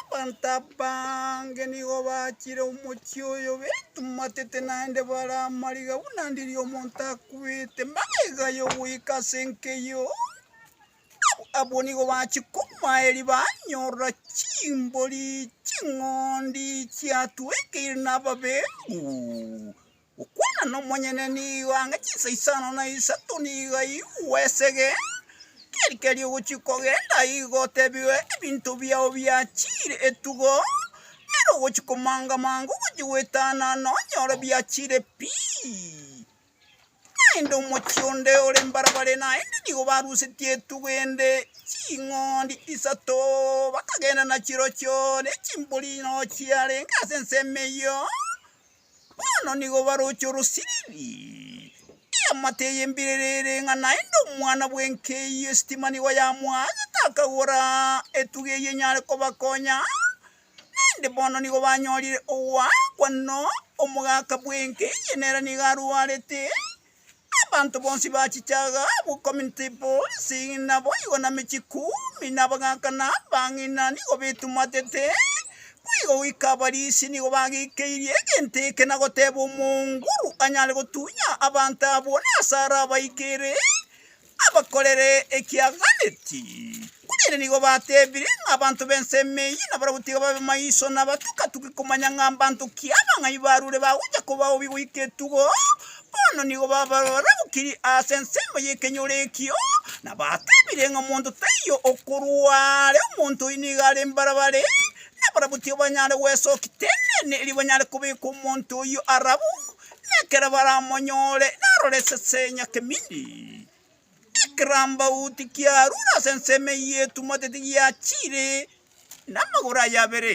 Abanto abaange nigo bachire omochie oyo baetumatete naende bare amariga buna ndiri omonto akwete mbaiga yogoika ase enkeyio abwo nigo bachia komoaeri banyorora chimbori ching'ondi chiatuekeire na ababembu. Gokwana nomonyene nigo ang'e chinsa isano na isato nigo aigwe esege, keri keri ogochia kogenda igo otebigwe ebinto biao biachire etugo, ere ogochia komanga manga ogochia goetana nonyore biachire pi. Naende omochie onde ore mbarabare naende nigo barusetie etugo ende ching'ondi isato bakagenda nachirochio ne chimbori noo chiarenge ase ensemo eyio. Bono nigo baroche orosiriri. Eamate eye mbiriri ere ng'a naende omwana bw'enka eyio esitima nigo yamoagete akagora etuga eyio enyare kobakonya, naende bono nigo banyorire ogoakwa. No, omogaka bw'enka eye nere nigo arwarete. Abanto bonsi bachichaga abwo community bonsi naboigo na michie kumi na abagaka na abang'ina nigo betumatete, boigo goika abarisi nigo bagikeirie egento eke na goteba omonguru anyare gotunya abanto abwo nase arabaikere. abakorere ekiaganeti. Korende nigo batebire ng'a abanto b'ensemo eyio nabarabwo tiga babe maiso na abatuke-tuke komanya ng'a mbanto ki abang'ai barure bagocha kobaobi goika etugo. Bono nigo babarabukiri ase ensemo y'ekenyoro ekio, na batebire ng'a omonto taiyo okorwa are omonto oyio nigo are mbarabare, nabarabwo tiga banyare gwesokia teneene erio banyare kobeka omonto oyio arabwo, na ekero baramonyore narore esese enyake mindi, ekirambauti kiarure ase ensemo eyio etumotete giachiire namagoro aye abere.